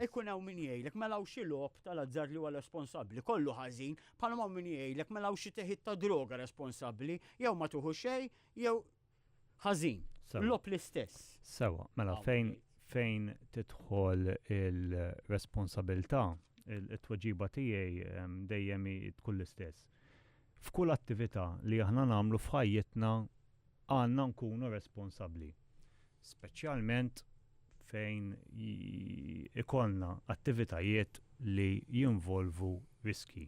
Ikun hawn min jgħidlek mela hawn xi logħob tal-azzard li huwa responsabbli, kollu ħażin, bħalma hawn min jgħidlek mela hawn xi teħid ta' droga responsabbli, jew ma tieħu xejn jew ħażin. Logħob l-istess. Sewwa, mela fejn fejn tidħol il-responsabilità, it-tweġiba tiegħi dejjem tkun l-istess. F'kull attività li aħna nagħmlu f'ħajjitna Għandna nkunu responsabbli, speċjalment fejn ikollna attivitajiet li jinvolvu riskji.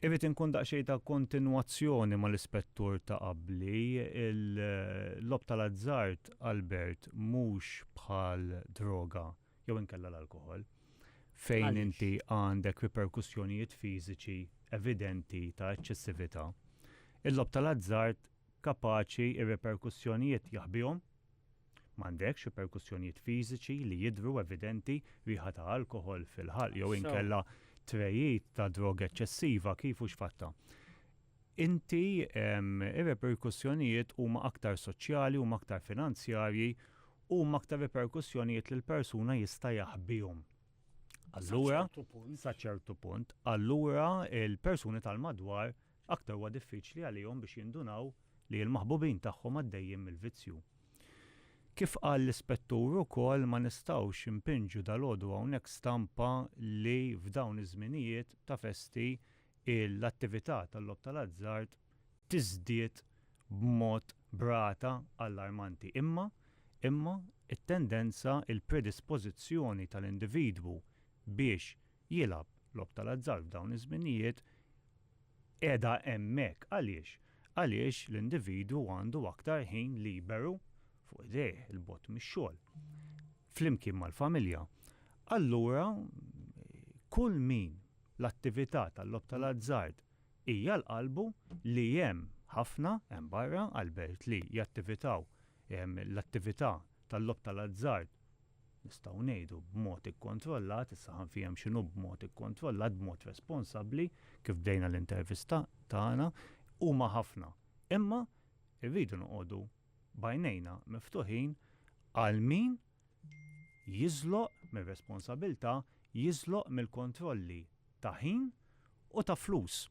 Irrid inkun daqsxejn ta' kontinwazzjoni mal-ispettur ta' qabli, il-logħob tal-azzard, Albert, mhux bħal droga jew inkella l-alkoħol, fejn inti għandek riperkussjonijiet fiżiċi evidenti ta' eċċessività, il-logħob tal-azzard kapaċi r-riperkussjonijiet jaħbihom, m'għandekx riperkussjonijiet fiżiċi li jidhru evidenti, riħa ta' alkoħol fil-ħalq jew inkella tregħid ta' droga eċċessiva kif hux fatta. inti, ir-reperkussjonijiet huma aktar soċjali, huma aktar finanzjarji, huma aktar reperkussjonijiet li l-persuna jista' jaħbihom. Allura, sa ċertu punt, allura l-persuni tal-madwar aktar huwa diffiċli għalihom biex jindunaw li l-maħbubin tagħhom għaddejjin mill-vizzju. Kif qal l-Ispettur ukoll ma nistgħux inpinġu dalgħodu hawnhekk stampa li f'dawn iż-żminijiet ta' festi l-attività tal-logħob tal-azzard tiżdied b'mod b'rata allarmanti. Imma, imma, it-tendenza, il-predispożizzjoni tal-individwu biex jilgħab logħob tal-azzard f'dawn iż-żminijiet qiegħda hemmhekk. Għaliex? Għaliex l-individwu għandu aktar ħin liberu fuq idejh, 'il bogħod mix-xogħol, flimkien mal-familja. Allura, kull min l-attività tal-logħob tal-azzard hija l-qalbu li hemm ħafna hemm barra għall-belt li jattivitaw l-attività tal-logħob tal-azzard nistgħu ngħidu b'mod ikkontrollat, issa ħa nfiehem x'inhu b'mod ikkontrollat, b'mod responsabbli kif bdejna l-intervista tagħna, huma ħafna. Imma rridu noqogħdu b'għajnejna miftuħin għal min jiżloq mir-responsabilità, jiżloq mill-kontrolli ta' ħin u ta' flus.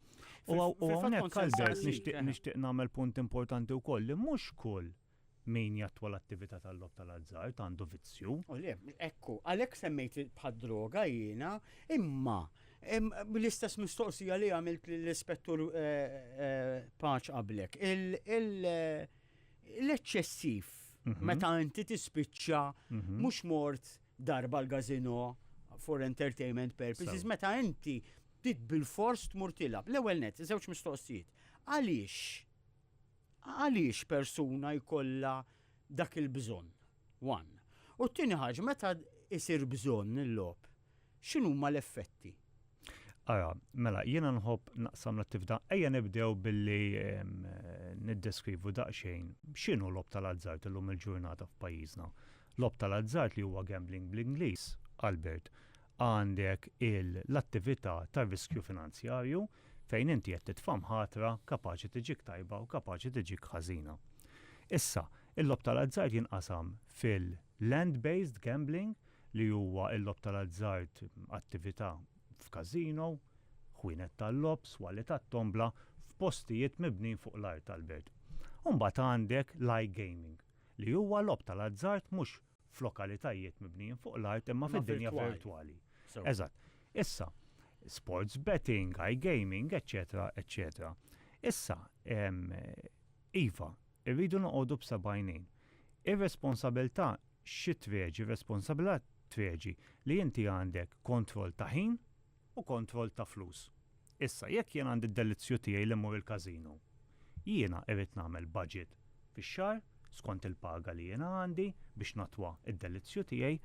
U hawnhekk, Albert, nixtieq nagħmel punt importanti wkoll li mhux kull min jattwa l-attività tal-logħob tal-azzard għandu vizzju. O le, ekku, għalhekk semmejt bħad-droga jiena, imma bl-istess mistoqsija li għamilt lill-Ispettur Paċ qablek, L-eċċessiv, meta inti tispiċċa mhux mort darba l-gazino for entertainment purposes, meta inti trid bilfors tmur tilgħab. L-ewwel nett, żewġ mistoqsijiet. Għaliex għaliex persuna jkollha dak il-bżonn? One. U t-tieni ħaġa, meta jsir bżonn il-logħob, X'inhuma l-effetti? Ara, mela, jiena nħobb naqsam l-attività. Ejja nibdew billi niddeskrivu daqsxejn x'inhu logħob tal-azzard illum il-ġurnata f'pajjiżna. Logħob tal-azzard li huwa gambling bl-Ingliż, Albert, għandek l-attività tar-riskju finanzjarju fejn inti qed titfa' mħatra kapaċi tiġik tajba u kapaċi tiġik ħażina. Issa, il-logħob tal-azzard jinqasam fil-land-based gambling, li huwa l-logħob tal-azzard, attività f'każino, ħwienet tal-logħob, swali tat-tombla, f'postijiet mibnin fuq l-art tal-belt. U mbagħad għandek l-iGaming, li huwa logħob tal-azzard mhux f'lokalitajiet mibnijin fuq l-art imma fid-dinja virtwali. Eżatt. Issa, sports betting, iGaming, eċċetera, eċċetera. Issa, iva, irridu noqogħdu b'seba' għajnejn. Ir-responsabilità xi tweġi, r-responsabilità tweġi li inti għandek kontroll ta' ħin u kontroll ta' flus. Issa, jekk jien għandi d-delizzju tiegħi li mmur il-każino, jiena irrid nagħmel baġit fix-xahar skont il-paga li jiena għandi biex nattwa d-delizzju tiegħi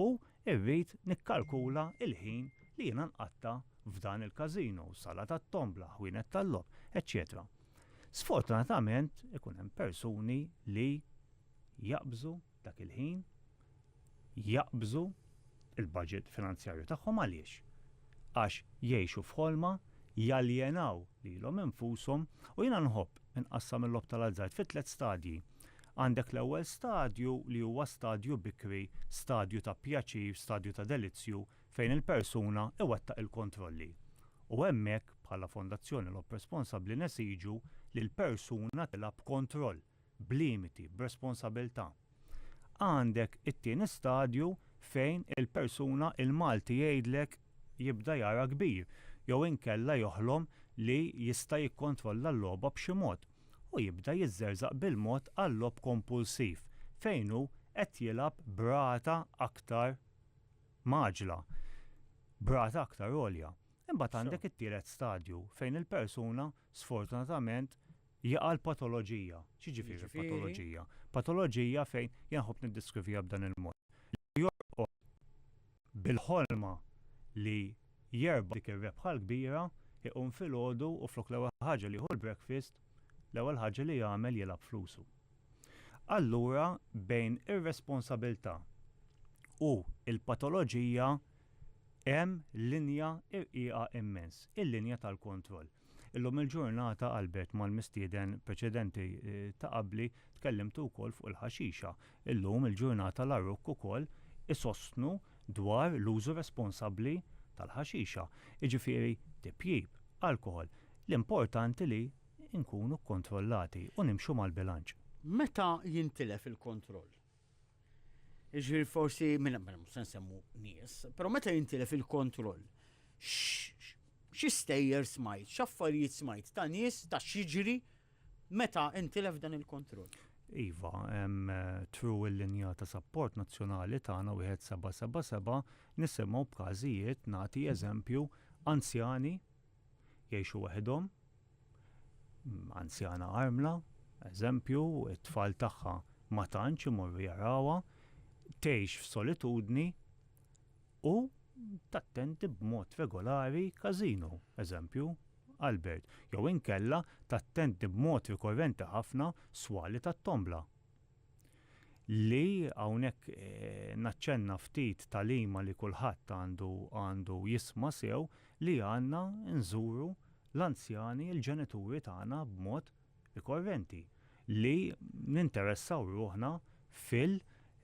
u rrid nikkalkula l-ħin li jiena nqatta' f'dan il-każino, sala tat-tombla, ħwienet tal-logħob, eċċetera. Sfortunatament ikun hemm persuni li jaqbżu dak il-ħin, jaqbżu l-baġit finanzjarju tagħhom għaliex? Għax jgħixu f'ħolma, jaljenaw lilhom infushom u jiena nħobb inqassam il-logħob tal-azzard fi tliet stadji. Għandek l-ewwel stadju li huwa stadju bikri, stadju ta' pjaċir, stadju ta' delizzju fejn il-persuna iwettaq il-kontrolli. U hemmhekk, bħala Fondazzjoni Logħob Responsabbli nesiġu li l-persuna tilgħab b'kontroll, b'limiti, b'responsabilità. Għandek it-tieni stadju fejn il-persuna l-Malti jgħidlek jibda jara kbir jew inkella joħlom li jista' jikkontrolla l-logħba b'xi mod u jibda jiżżerżaq bil-mod għal-logħob kompulsiv fejn hu qed jilgħab b'rata aktar mgħaġġla, b'rata aktar għolja. Imbagħad għandek it-tielet stadju fejn il-persuna sfortunatament, Jaqa' l-patoloġija. X'jiġifieri l-patoloġija? Patoloġija fejn, jien nħobb niddeskriviha b'dan il-mod, li jorqod bil-ħolma li jerbaħ dik ir-rebħa l-kbira, iqum filgħodu u flok l-ewwel ħaġa li jieħu l-breakfast, l-ewwel ħaġa li jagħmel jilgħab flusu. Allura bejn ir-responsabilità u l-patoloġija hemm linja rqiqa immens, il-linja tal-kontroll. Illum il-ġurnata qalbet mal-mistieden preċedenti ta' qabli tkellimtu wkoll fuq il-ħaxixa. Illum il-ġurnata l-għaruk ukoll isostnu dwar l-użu responsabbli tal-ħaxixa. Jiġifieri tipjip, alkoħol, l-importanti li nkunu kkontrollati u nimxu mal-bilanċ. Meta jintilef il-kontroll, Ġifieri forsi minn mela, mhux se nsemmu nies, però meta jintilef il-kontroll, xi stejjer smajt, x'affarijiet smajt ta' nies ta' xiġri meta intilef dan il-kontroll. Iva, hemm eh, tru l-linja ta' sapport nazzjonali tagħna wieħed 777 nisimgħu b'każijiet nagħti eżempju anzjani jgħixu waħedhom, anzjana armla, eżempju, it-tfal tagħha ma tantx imorru jarawha, tgħix f'solitudni u tattendi b'mod regolari każino, eżempju, Albert, jew inkella tattendi b'mod rikorrenti ħafna swali tat-tombla. li hawnhekk naċċenna ftit tagħlima li kulħadd għandu għandu jisma' sew li għandna nżuru l-anzjani, il-ġenituri tagħna b'mod rikorrenti, li ninteressaw ruħna fil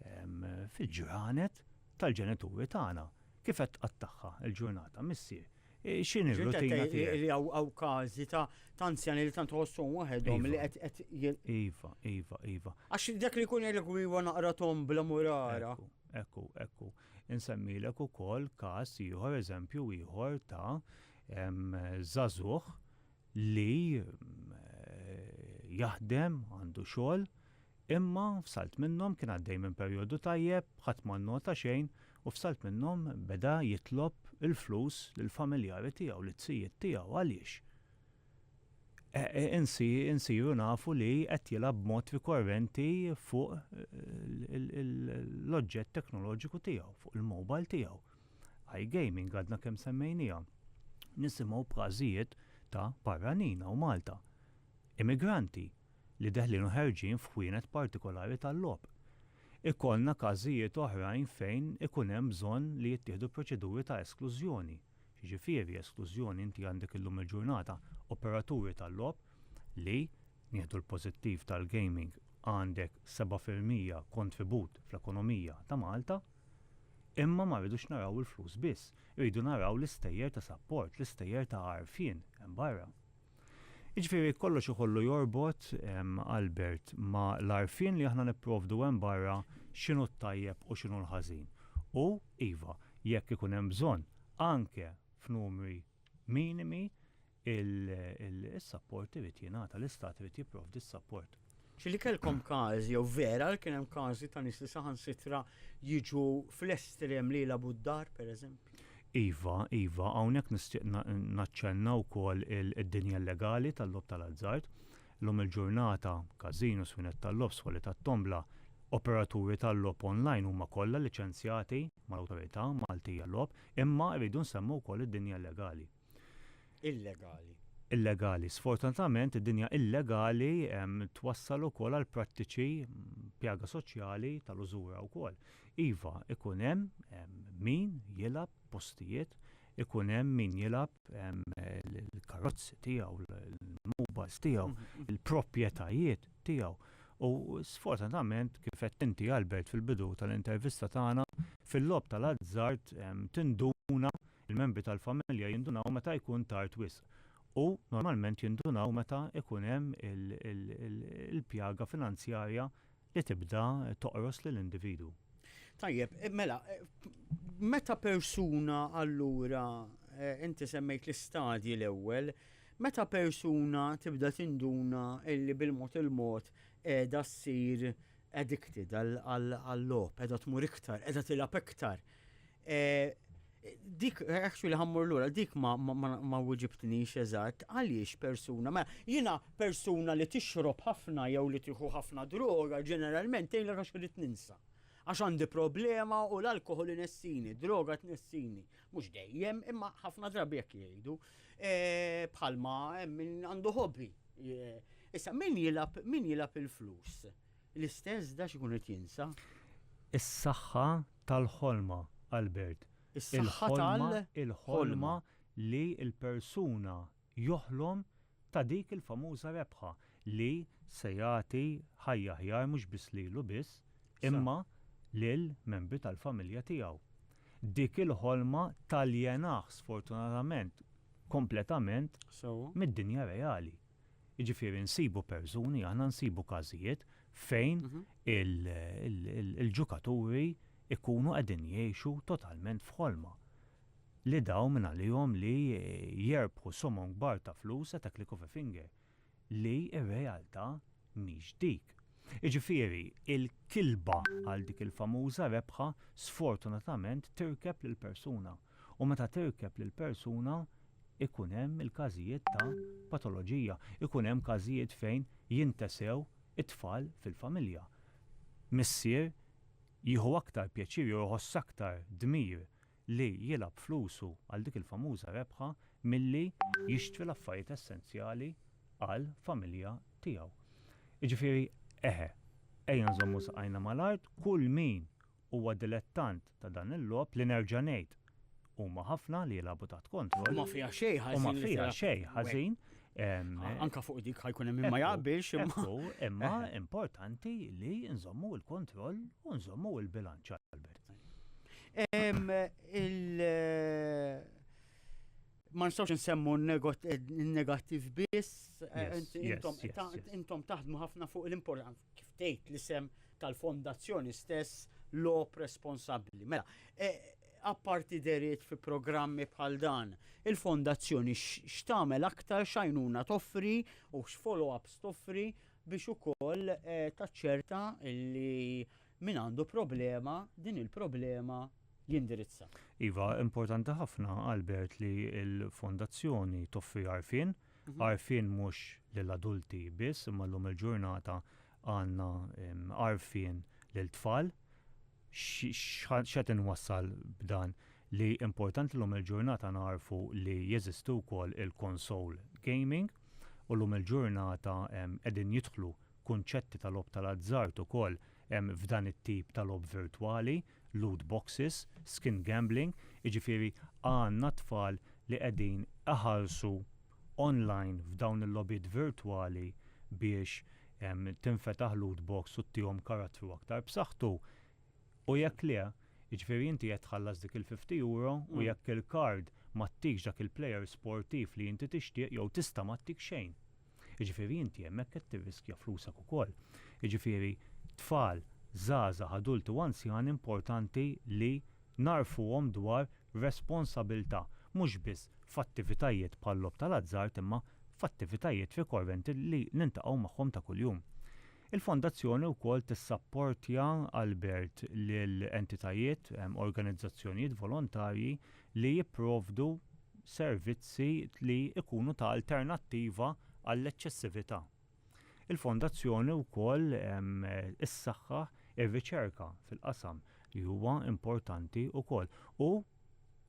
fil-ġranet tal-ġenituri tagħna. Kif qed tqattagħha l-ġurnata missier? X'inhi r-rutina tiegħek? Hawn każi ta' anzjani li tant ħossuhom waħedhom li iva. qed Iva, iva, iva. Għax dak li jkun jgħidlek iva naqra tom bla murara. Ekku, ekku. Insemmilek ukoll każ ieħor, eżempju ieħor ta' żagħżugħ li jaħdem, għandu xogħol, imma f'salt minnhom kien għaddej minn perjodu tajjeb, ħadd ma nnota xejn u f'salt minnhom beda jitlob il-flus lill-familjari tiegħu, lit-tzijiet tiegħu. Għaliex? Insiru nafu li qed jilgħab b'mod rikorrenti fuq l-oġġett teknoloġiku tiegħu, fuq il-mobile tiegħu. iGaming għadna kemm semmejniha. Nisimgħu b'każijiet ta' barranin hawn Malta, immigranti, li deħlin u ħerġin f'ħwienet partikolari tal-logħob. Ikollna każijiet oħrajn fejn ikun hemm bżonn li jittieħdu proċeduri ta' esklużjoni. X'jiġifieri esklużjoni? Inti għandek illum il-ġurnata operaturi tal-logħob li, nieħdu l-pożittiv tal-gaming, għandek seba' fil-mija kontribut fl-ekonomija ta' Malta, Imma ma rridux naraw il-flus biss, irridu naraw l-istejjer ta' sapport, l-istejjer ta' għarfien hemm barra. Jiġifieri kollox ikollu jorbot, Albert, ma' l-għarfien li aħna nipprovdu hemm barra x'inhu t-tajjeb u x'inhu l-ħażin. U, iva, jekk ikun hemm bżonn, anke f'numri minimi, Is-sapport irid jingħata, l-Istat irid jipprovdi s-sapport. Xi li kellkom każi jew vera li kien hemm każi ta' nies li saħansitra jiġu fl-estrem li jilagħbu d-dar, pereżempju? Iva, iva, hawnhekk nixtieq naċċenna wkoll id-dinja illegali tal-logħob tal-azzard. Illum il-ġurnata, każinos, swinett tal-logħob, soli tat-tombla, operaturi tal-logħob online huma kollha liċenzjati mal-Awtorità Maltija Logħob, imma rridu nsemmu wkoll id-dinja illegali. illegali. Illegali. Sfortunatament, id-dinja illegali twassal ukoll għal prattiċi pjaga soċjali tal-użura wkoll. Iva, ikun hemm min jilgħab postijiet, ikun hemm min jilgħab il-karozzi tiegħu, il-mubas tiegħu, mhm. il-proprjetajiet tiegħu. U sfortunatament, kif qed inti Albert fil-bidu tal-intervista tagħna, fil-lob tal-azzard tinduna Il-membri tal-familja jindunaw meta jkun tard wisq u normalment jindunaw meta jkun hemm il-pjaga finanzjarja li tibda toqros lill-individwu. Tajjeb, mela, meta persuna allura, inti semmejt l-istadji l-ewwel, meta persuna tibda tinduna li bil-mod il-mod qiegħda ssir addicted għal-logħob, qiegħda tmur iktar, qiegħda tilgħab iktar, Eh, dik, actually eh, ħammur l-ura, dik ma, ma, ma, ma wġibtnix eżatt, għaliex persuna, ma mela, jina persuna li tixrob ħafna jew li tiħu ħafna droga, ġeneralment tejla għax rrit ninsa. Għax għandi problema u l-alkohol nessini, droga t-nessini, mux dejjem, imma ħafna drabi jek jgħidu, eh, bħalma eh, għandu hobby. Issa, min jilab, min jilab il-flus? L-istess da x'ikun qed jinsa? Is-saħħa tal-ħolma, Albert. Is-saħħa tal-ħolma. Il-ħolma, il-ħolma li l-persuna joħlom ta' dik il-famuża rebħa li se jagħti ħajja aħjar mhux biss lilu biss, imma lil membri tal-familja tiegħu. Dik il-ħolma taljenaħ sfortunatament kompletament mid-dinja reali. Jiġifieri nsibu persuni, aħna nsibu każijiet fejn il-ġukaturi jkunu qegħdin jgħixu totalment f'ħolma. Li dawn minn għalihom li jerbħu somom kbar ta' flus qed hekk l-coffee finger. Li r-realtà mhix dik. Jiġifieri l-kilba għal dik il-famuża rebħa sfortunatament tirkeb lill-persuna. u meta tirkeb lil persuna jkun hemm il-każijiet ta' patoloġija, ikun hemm każijiet fejn jintesew it-tfal fil-familja. Missier jieħu aktar pjaċir jew iħoss aktar dmir li jilgħab flusu għal dik il-famuża rebħa milli jixtri l-affarijiet essenzjali għal familja tiegħu. Jiġifieri, eħe, ejja nżommu saqajna mal-art, kull min huwa dilettant ta' dan il-logħob li nerġa' ngħid, huma ħafna li jilagħbu taħt kontroll. U ma fiha xejn ħażin. U ma fiha xejn ħażin. Anke fuq dik ħajkun hemm min ma jaqbilx imma. Imma importanti li nżommu l-kontroll u nżommu l-bilanċ Albert. Il ma nistgħux nsemmu n-negattiv biss, eh, intom taħdmu ħafna fuq l-importanza kif tgħid l-isem tal-fondazzjoni stess lop responsabbli. Mela, eh, apparti deriet fi programmi bħal dan, il-fondazzjoni x'tagħmel aktar xajnuna toffri u x'follow-ups toffri biex ukoll eh, taċċerta li Min għandu problema, din il-problema jindirizza. Iva, importanti ħafna, Albert, li l-Fondazzjoni toffri għarfien, għarfien mhux lil adulti biss, imma llum il-ġurnata għandna għarfien lil tfal. X'qed inwassal b'dan? Li importanti llum il-ġurnata nagħrfu li jeżisti wkoll il-console gaming u llum il-ġurnata qegħdin jidħlu kunċetti ta' logħob tal-azzard ukoll hemm f'dan it-tip ta' logħob virtwali, loot boxes, skin gambling, jiġifieri għandna tfal li qegħdin iħallsu online f'dawn il-logħbiet virtwali biex tinfetaħ loot box u ttihom karattru aktar b'saħħtu u jekk le, jiġifieri inti qed tħallas dik il-fifty euro u jekk il-card ma ttikx dak il-player sportiv li inti tixtieq jew tista' ma ttik xejn. Jiġifieri inti hemmhekk qed tirriskja flusek ukoll. Jiġifieri tfal, żgħażagħ, adulti u anzjani importanti li ngħarrfuhom dwar responsabilità mhux biss f'attivitajiet bħal-logħob tal-azzard imma f'attivitajiet rikorrenti li niltaqgħu magħhom ta' kuljum. Il-Fondazzjoni wkoll tissapportja Albert lil entitajiet, organizzazzjonijiet volontarji li jipprovdu servizzi li jkunu ta' alternattiva għall-eċċessività. Il-Fondazzjoni wkoll issaħħaħ ir-riċerka fil-qasam li huwa importanti wkoll u,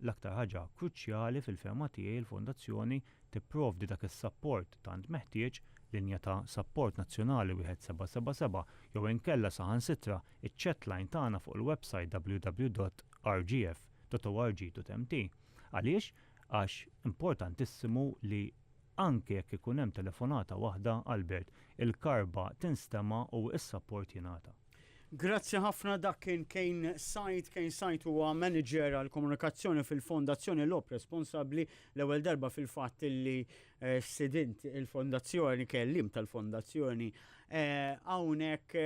l-aktar ħaġa kruċjali fil-fehma tiegħi, il-Fondazzjoni tipprovdi dak is-sapport tant meħtieġ, linja ta' sapport nazzjonali 1777 jew inkella saħansitra ċ-chatline tagħna fuq il-websajt www.rgf.org.mt. Għaliex? Għax importantissimu li anke jekk ikun hemm telefonata waħda, Albert, il-karba tinstema' u s-sapport jingħata. Grazzi ħafna, dak kien Kane Said. Kane Said huwa Manager għall-Komunikazzjoni fil-Fondazzjoni Lob Responsabbli. L-ewwel darba fil-fatt li stidint il-Fondazzjoni, kelliem tal-Fondazzjoni hawnhekk.